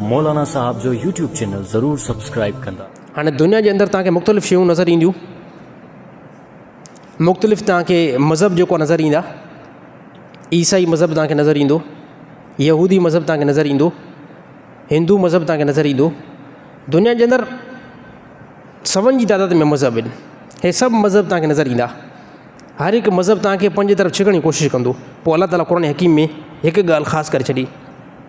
مولانا صاحب جو YouTube channel ضرور سبسڪرائب ڪندا. هاڻي دنيا جي اندر توهان کي مختلف شيون نظر اينديون مختلف توهان کي مذهب جيڪو نظر ايندا عيسائي مذهب توهان کي نظر ايندو يهودي مذهب توهان کي نظر ايندو هندو مذهب توهان کي نظر ايندو دنيا جي اندر سون جي تعداد ۾ مذهب آهن هي سڀ مذهب توهان کي نظر ايندا هر هڪ مذهب توهان کي پنهنجي طرف ڇڪڻ جي ڪوشش ڪندو پوء الله تعالی قرآن حڪيم ۾ هڪ ڳالهه خاص ڪري ڇڏي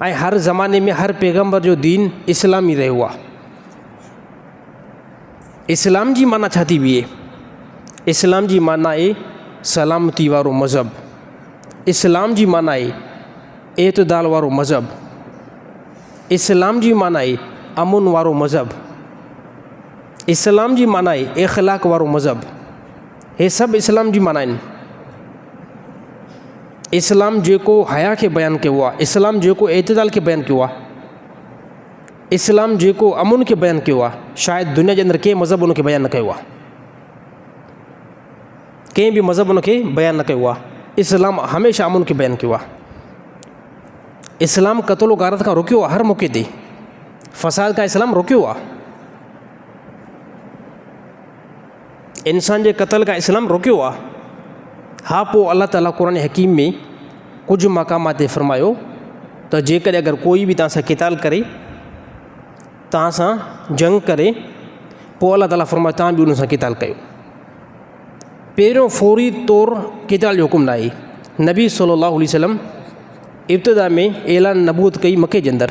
۽ هر زماني ۾ هر پيغمبر جو دين اسلام ئي رهيو آهي اسلام جي معنيٰ ڇا ٿي بيهي اسلام جي معنيٰ اي سلامتي وارو مذهب اسلام جي معنيٰ اي اعتدال وارو مذهب اسلام جي معنيٰ اي امن وارو مذهب اسلام جي معنيٰ اي اخلاق وارو مذهب هي سڀ اسلام جي معنيٰ آهن. اسلام جيڪو حيا کي بيان ڪيو آهي، اسلام جيڪو اعتدال کي بيان ڪيو آهي، اسلام جيڪو امن کي بيان ڪيو آهي، شايد دنيا جي اندر ڪنهن مذهب ان کي بيان نه ڪيو آهي. ڪنهن به مذهب ان کي بيان نه ڪيو آهي. اسلام هميشه امن کي بيان ڪيو آهي. اسلام قتل و غارت کان روڪيو آهي هر موقعي تي. فساد کان اسلام روڪيو آهي. انسان جي قتل کان اسلام روڪيو آ. ها پوء الله تعالي قرآن حڪيم ۾ ڪجهه مقامات تي فرمايو ته جيڪڏهن اگر ڪوئي به توهان سان قتال ڪري، توهان سان جنگ ڪري، پوء الله تعالي فرمايو توهان به ان سان قتال ڪيو. پهريون فوري طور قتال جو حڪم ناهي. نبي صلّي اللّٰه عليه وسلّم ابتدا ۾ اعلان نبوت ڪئي مڪي جي اندر.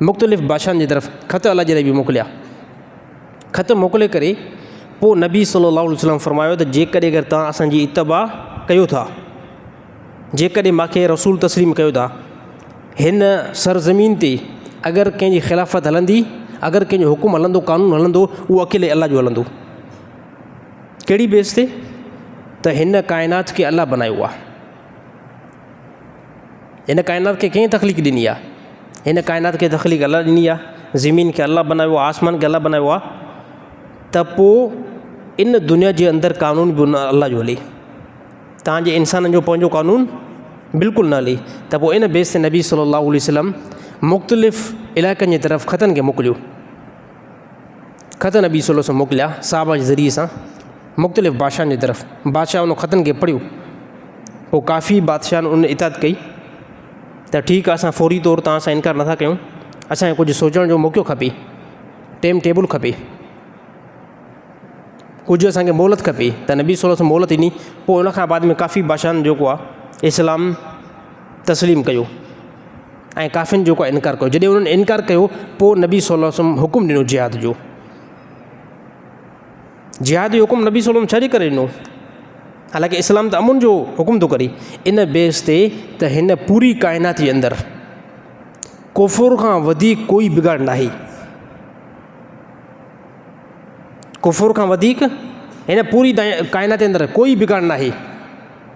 مختلف بادشاهن جي طرف خط الله جي نبي موڪليا. خط موڪلي ڪري پوء نبي صلّي اللّٰه عليه وسلّم فرمايو ته جيڪڏهن اگر توهان اسان جي اتباع ڪيو ٿا، جيڪڏهن مان کي رسول تسليم ڪيو ٿا، هن سرزمين تي اگر ڪنهن جي خلافت هلندي، اگر ڪنهن جو حڪم هلندو، قانون هلندو، اهو اڪيلي الله جو هلندو. ڪهڙي بيس تي؟ ته هن ڪائنات کي الله بنايو آهي. هن ڪائنات کي ڪنهن تخليق ڏني آهي؟ هن ڪائنات کي تخليق الله ڏني آهي. زمين کي الله بنايو آهي، آسمان کي الله بنايو آهي. ته پوء ان دنيا جي اندر قانون به ان الله جو هلي. تانجي انسانن جو پنهنجو قانون بلڪل نه هلي. ته پوء ان بيس تي نبي صلّي اللّٰه عليه وسلّم مختلف علائقن جي طرف خطن کي موڪليو. خط نبي صلي الله علیه وسلم موڪليا صحابه جي ذريعي سان مختلف بادشاهن جي طرف، بادشاهه ان خطن کي پڙهيو، پوء ڪافي بادشاهن ان اطاعت ڪئي ته ٺيڪ آهي اسان فوري طور توهان سان انڪار نٿا ڪيون، اسان کي ڪجهه سوچڻ جو موقعو کپي، ٽيم ٽيبل کپي، ڪجهه اسان کي مهلت کپي ته نبي صلي الله علیه وسلم مهلت ڏني، پوء ان کان بعد ۾ ڪافي بادشاهن جيڪو آهي اسلام تسليم ڪيو. ۽ ڪافرن جيڪو انڪار ڪيو جڏهن انهن انڪار ڪيو پوء نبي صلي الله عليه وسلم حڪم ڏنو جهاد جو جهاد جو حڪم نبي صلي الله عليه وسلم ڇا جي ڪري ڏنو حالانڪه اسلام ته امن جو حڪم ٿو ڪري ان بيس تي ته هن پوري ڪائنات جي اندر ڪفر کان وڌيڪ ڪوئي بگاڙ نه آهي ڪفر کان وڌيڪ هن پوري ڪائنات جي اندر ڪوئي بگاڙ نه آهي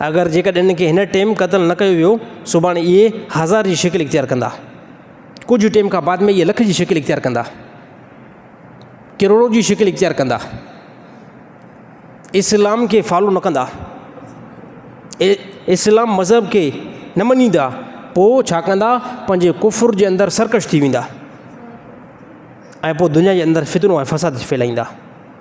اگر جيڪڏهن انهن کي هن ٽيم قتل نه ڪيو ويو، سڀاڻي اهي هزار جي شڪل اختيار ڪندا. ڪجهه ٽيم کان بعد ۾ اهي لک جي شڪل اختيار ڪندا. ڪروڙو جي شڪل اختيار ڪندا. اسلام کي فالو نه ڪندا. اسلام مذهب کي نه مڃيندا. پوء ڇا ڪندا پنهنجي ڪفر جي اندر سرڪش ٿي ويندا. ۽ پوء دنيا جي اندر فتنو ۽ فساد ڦهلائيندا.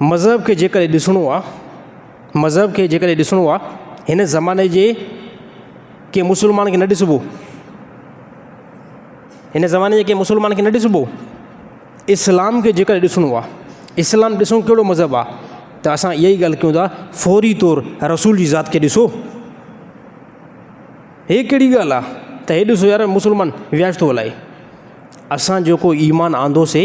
مذهب کي جيڪڏهن ڏسڻو آ، مذهب کي جيڪڏهن ڏسڻو آ، هن زماني جي ڪنهن مسلمان کي نه ڏسبو، هن زماني جي ڪنهن مسلمان کي نه ڏسبو، اسلام کي جيڪڏهن ڏسڻو آ، اسلام ڏسو ڪهڙو مذهب آ، ته اسان اها ئي ڳالهه ڪيون ٿا فوري طور رسول جي ذات کي ڏسو، هي ڪهڙي ڳالهه آ، ته هي ڏسو يار مسلمان وياج ٿو هلائي، اسان جيڪو ايمان آندوسي.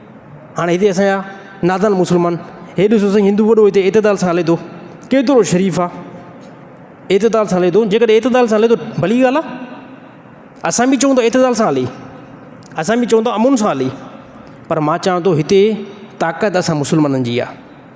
هاڻي هتي اسان جا نادان مسلمان، هي ڏسو سائين هندو وڏو هتي اعتدال سان هلي ٿو، ڪيترو شريف آ، اعتدال سان هلي ٿو، جيڪڏهن اعتدال سان هلي ٿو ڀلي ڳالهه آ، اسان به چئون ٿا اعتدال سان هلي، اسان به چئون ٿا امن سان هلي، پر مان چوان ٿو هتي طاقت اسان مسلمانن جي آ.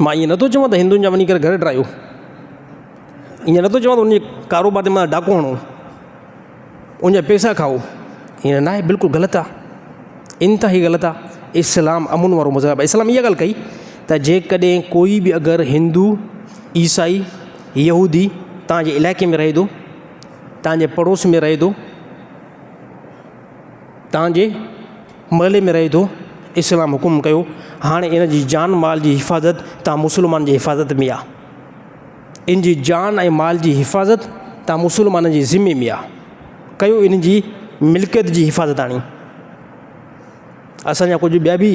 مان ايئن نٿو چوان ته هندن جا وڃي ڪري گهر ڊاهيو، ايئن نٿو چوان ته انهن جي ڪاروبار تي مٿان ڊاڪو هڻو، ان جا پيسا کائو، ايئن ناهي بلڪل غلط آ، انتهائي غلط آ، اسلام امن وارو مذهب آ، اسلام اها ڳالهه ڪئي ته جيڪڏهن ڪوئي به اگر هندو، عيسائي، يهودي توهان جي علائقي ۾ رهي ٿو، توهان جي پڙوس ۾ رهي ٿو، توهان جي محلي ۾ رهي ٿو، اسلام حڪم ڪيو هاڻي ان جي جان مال جي حفاظت توهان مسلمانن جي حفاظت ۾ آ. ان جي جان ۽ مال جي حفاظت توهان مسلمانن جي ذمي ۾ آ. ڪيو ان جي ملڪيت جي حفاظت هاڻي اسان جا ڪجهه ٻيا به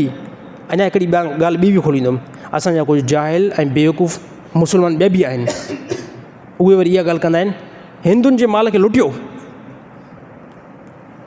اڃا هڪڙي ٻيا ڳالهه ٻي به کوليندم اسان جا ڪجهه جاهل ۽ بيوقوف مسلمان ٻيا به آهن اهي وري اها ڳالهه ڪندا آهن هندن جي مال کي لٽيو.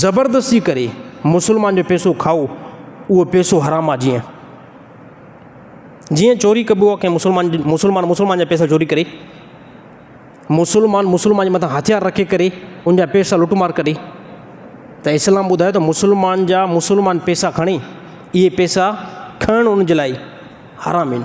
زبردستي ڪري مسلمان جو پيسو کائو اهو پيسو حرام آ جيئن جيئن چوري ڪبو آ ڪنهن مسلمان مسلمان مسلمان جا پيسا چوري ڪري مسلمان مسلمان جي مٿان هٿيار رکي ڪري ان جا پيسا لٽ مار ڪري ته اسلام ٻڌايو ته مسلمان جا مسلمان پيسا کڻي اهي پيسا کڻڻ ان جي لاء حرام آهن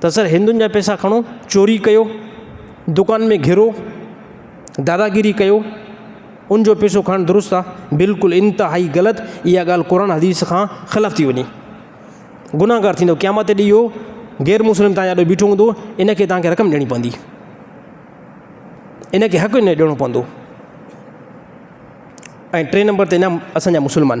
ته سر هندن جا پيسا کڻو، چوري ڪيو، دڪانن ۾ گهرو، داداگيري ڪيو، ان جو پيسو کڻڻ درست آ؟ بلڪل انتهائي غلط، اها ڳالهه قرآن حديث کان خلف ٿي وڃي. گنهگار ٿيندو، قيامت تي اهو غير مسلم توهان جي آڏو بيٺو هوندو، ان کي توهان کي رقم ڏيڻي پوندي. ان کي حق ان جو ڏيڻو پوندو. ۽ ٽئين نمبر تي اسان جا مسلمان.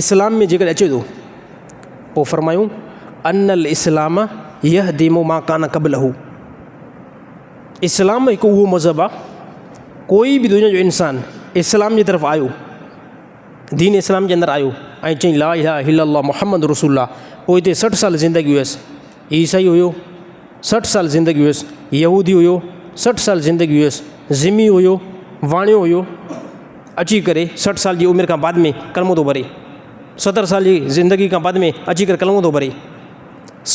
اسلام ۾ جيڪڏهن اچي ٿو پوء فرمايون ان الاسلام يهدم ما ڪان قبله اسلام هڪ اهو مذهب آ ڪوئي به دنيا جو انسان اسلام جي طرف آيو دين اسلام جي اندر آيو ۽ چئي لا اله الا الله محمد رسول الله پوء هتي سٺ سال زندگي هيس عيسائي هيو، سٺ سال زندگي هيس، يهودي هيو، سٺ سال زندگي هيس، ذمي هيو، واڻيو هيو، اچي ڪري سٺ سال جي عمر کان بعد ۾ ڪلمو ٿو ڀري، ستر سال جي زندگي کان بعد ۾ اچي ڪري ڪلمو ٿو ڀري،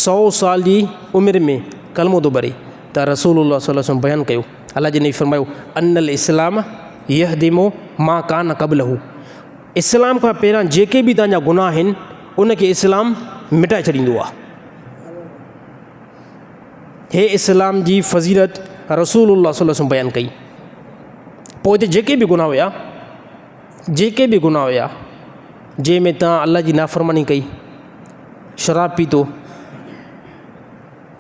سؤ سال جي عمر ۾ ڪلمو ٿو ڀري ته رسول الله صلي الله عليه وسلم بيان ڪيو، الله جي نبي فرمايو، ان الاسلام يهدم ما ڪان قبله. اسلام کان پهريان جيڪي به توهان جا گناهه آهن ان کي اسلام مٽائي ڇڏيندو آهي. هي اسلام جي فضيلت رسول الله صلي الله عليه وسلم بيان ڪئي. پوء هتي جيڪي به گناهه هيا جيڪي به گناهه هيا جنهن ۾ توهان الله جي نافرماني ڪئي شراب پيتو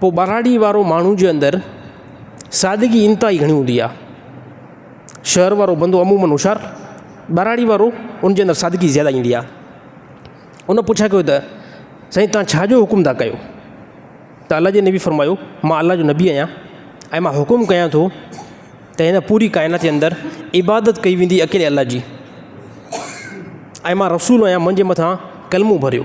پوء ٻهراڙي وارو ماڻهو جي اندر سادگي انتهائي گهڻي هوندي آهي. شهر وارو بندو عموماً هوشيار، ٻهراڙي وارو ان جي اندر سادگي زياده ايندي آهي. ان پڇا ڪيو ته سائين تان ڇا جو حڪم ٿا ڪيو؟ ته الله جي نبي فرمايو مان الله جو نبي آهيان ۽ مان حڪم ڪيان ٿو ته هن پوري ڪائنات جي اندر عبادت ڪئي ويندي اڪيلي الله جي ۽ مان رسول آهيان منهنجي مٿان ڪلمو ڀريو.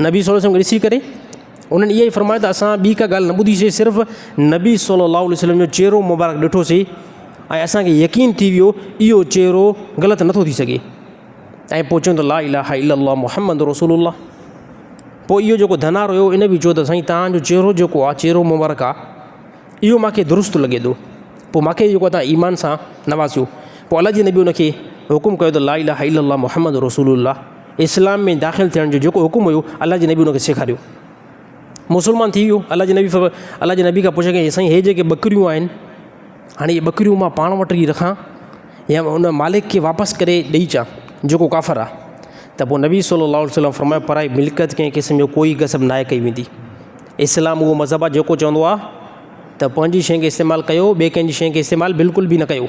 نبي صلّي الله عليه وسلّم کي ڏسي ڪري انهن اهو ئي فرمايو ته اسان ٻي ڪا ڳالهه نه ٻڌيسي صرف نبي صلّي الله عليه وسلّم جو چهرو مبارڪ ڏٺوسي ۽ اسانکي يقين ٿي ويو اهو چهرو غلط نٿو ٿي سگهي ۽ پوء چون ته لا اله الا الله محمد رسول الله پوء اهو جيڪو ڌنار هيو ان بي چيو ته سائين تهانجو چهرو جيڪو آ چهرو مبارڪ آ اهو ماکي درست لڳي ٿو پوء ماکي جيڪو تهان ايمان سان نوازيو پوء الله جي نبي ان کي حڪم ڪيو ته لا اله الا الله محمد رسول الله اسلام ۾ داخل ٿيڻ جو جيڪو حڪم هيو الله جي نبي ان کي سيکاريو مسلمان ٿي ويو الله جي نبي فرمايو الله جي نبي کان پڇيو ڪيائين سائين هي جيڪي ٻڪريون آهن هاڻي هي ٻڪريون مان پاڻ وٽ ئي رکان يا ان مالڪ کي واپس ڪري ڏئي اچان جيڪو ڪافر آ ته پوء نبي صلي الله عليه وسلم فرمايو پرائي ملڪيت ڪنهن قسم جو ڪوئي غصب ناهي ڪئي ويندي اسلام اهو مذهب آ جيڪو چوندو آ ته پنهنجي شين کي استعمال ڪيو ٻي ڪنهنجي شين کي استعمال بلڪل به نه ڪيو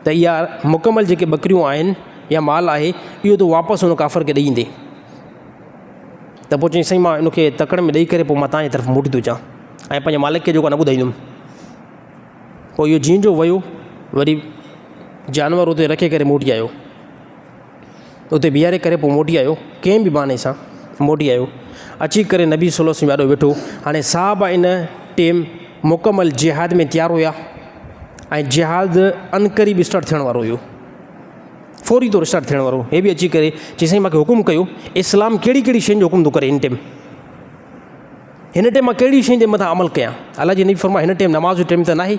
ته اها مڪمل جيڪي ٻڪريون آهن يا مال آهي اهو تون واپس ان ڪافر کي ڏئي ايندين ته پوء چيائين سائين مان ان کي تڪڙ ۾ ڏئي ڪري پوء مان تانجي طرف موٽي ٿو اچان ۽ پنهنجي مالڪ کي جيڪو نه ٻڌائيندم پوء اهو جيئن جو ويو وري جانور اتي رکي ڪري موٽي آيو اتي بيهاري ڪري پوء موٽي آيو، ڪنهن به بهاني سان موٽي آيو، اچي ڪري نبي صلي الله عليه وسلم جي آڏو ويٺو، هاڻي صحابه ان ٽيم مڪمل جهاد ۾ تيار هيا ۽ جهاد عنقريب اسٽارٽ ٿيڻ وارو هيو، فوري طور اسٽارٽ ٿيڻ وارو، هي به اچي ڪري چي سائين مونکي حڪم ڪيو، اسلام ڪهڙي ڪهڙي شين جو حڪم ٿو ڪري هن ٽيم، هن ٽيم مان ڪهڙي شين جي مٿان عمل ڪيان، الله جي نبي فرمايو هن ٽيم نماز جو ٽيم ته ناهي،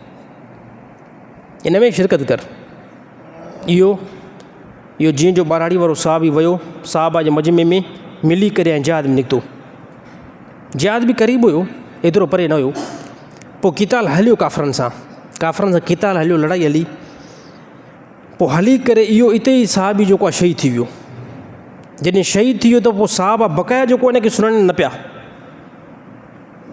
ان ۾ شرڪت ڪر. اهو اهو جيئن جو ٻهراڙي وارو صاحب ئي ويو، صحابه جي مجمعي ۾ ملي ڪري ۽ جهاد ۾ نڪتو. جهاد به قريب هيو، ايترو پري نه هيو. پوء قتال هليو ڪافرن سان، ڪافرن سان قتال هليو، لڙائي هلي. پوء هلي ڪري اهو اتي ئي صحابي جيڪو آهي شهيد ٿي ويو. جڏهن شهيد ٿي ويو ته پوء صحابه بقايا جيڪو هن کي سڃاڻين نه پيا.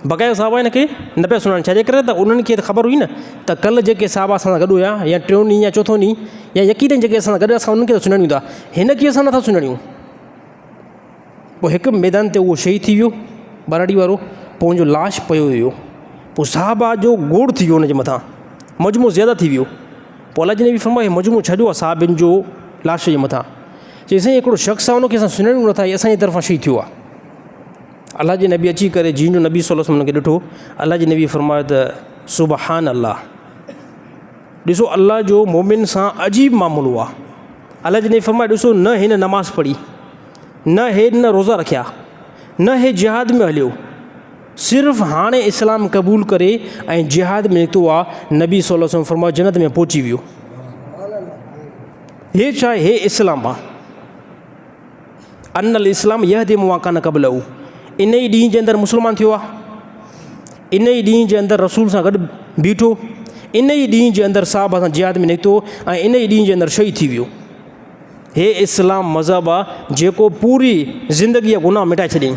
بقايا صاحب هن کي نه پيا سڃاڻن، ڇاجي ڪري ته انهن کي ته خبر هئي نه ته ڪلهه جيڪي صاحب اسان سان گڏ هيا يا ٽيون ڏينهن يا چوٿون ڏينهن يا يقينن جيڪي اسان سان گڏ اسان انهن کي ته سڃاڻيون ٿا، هن کي اسان نٿا سڃاڻيون. پوء هڪ ميدان تي اهو شهيد ٿي ويو ٻهراڙي وارو، پوء ان جو لاش پيو ويو، پوء صاحب جو گوڙ ٿي ويو ان جي مٿان، مجموعو زياده ٿي ويو، پوء الله جي نبي فرمايو هي مجموعو ڇا جو آهي صاحبن جو لاش جي مٿان، چيائين سائين هڪڙو شخص آهي ان کي اسان سڃاڻيون نٿا هي اسان جي طرفان شهيد ٿيو آهي. الله جي نبي اچي ڪري جنھن جو نبي صلي الله عليه وسلم کي ڏٺو الله جي نبي فرمايو ته سبحان الله ڏسو الله جو مومن سان عجيب معاملو آ الله جي نبي فرمايو ڏسو نه هن نماز پڙهي نه هي نه روزا رکيا نه هي جهاد ۾ هليو صرف هاڻي اسلام قبول ڪري ۽ جهاد ۾ نڪتو آ نبي صلي الله عليه وسلم فرمايو جنت ۾ پهچي ويو هي چاهي هي اسلام آ ان الاسلام يهدم ما کان قبله ان ئي ڏينهن جي اندر مسلمان ٿيو آ ان ئي ڏينهن جي اندر رسول سان گڏ بيٺو ان ئي ڏينهن جي اندر صاحب سان جهاد ۾ نڪتو ۽ ان ئي ڏينهن جي اندر شهيد ٿي ويو هي اسلام مذهب آ جيڪو پوري زندگي جا گناهه مٽائي ڇڏيائين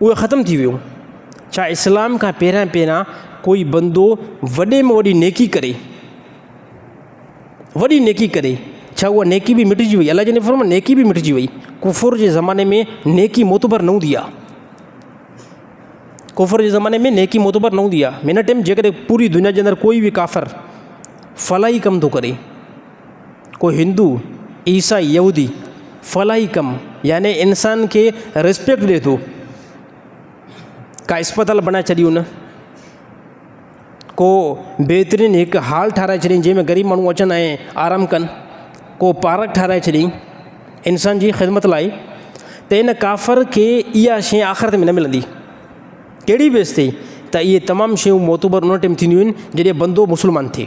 اهي ختم ٿي ويون. ڇا اسلام کان پهريان پهريان ڪوئي بندو وڏي ۾ وڏي نيڪي ڪري وڏي نيڪي ڪري ڇا اها نيڪي به مٽجي وئي الله جي نبي فرمايو نيڪي به مٽجي وئي ڪفر جي زماني ۾ نيڪي معتبر نه هوندي آهي ڪفر جي زماني ۾ نيڪي معتبر نه هوندي آهي هن ٽيم جيڪڏهن پوري دنيا جي اندر ڪوئي به ڪافر فلاحي ڪم ٿو ڪري ڪو هندو، عيسائي، يهودي فلاحي ڪم يعني انسان کي ريسپيڪٽ ڏي ٿو. ڪا اسپتال بڻائي ڇڏي هن. ڪو بهترين هڪ هال ٺاهرائي ڇڏي جنهن ۾ غريب ماڻهو اچن ۽ آرام ڪن. ڪو پارڪ ٺاهرائي ڇڏي انسان جي خدمت لاء ته ان ڪافر کي اها شيء آخرت ۾ نه ملندي. ڪهڙي بيس تي ته اهي تمام شيون معتبر ان ٽيم ٿينديون آهن جڏهن بندو مسلمان ٿئي.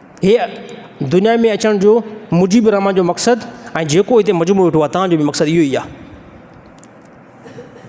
هيء دنيا ۾ اچڻ جو مجيب الرحمان جو مقصد ۽ جيڪو هتي مجموعو ويٺو آهي، توهان جو به مقصد اهو ئي آهي.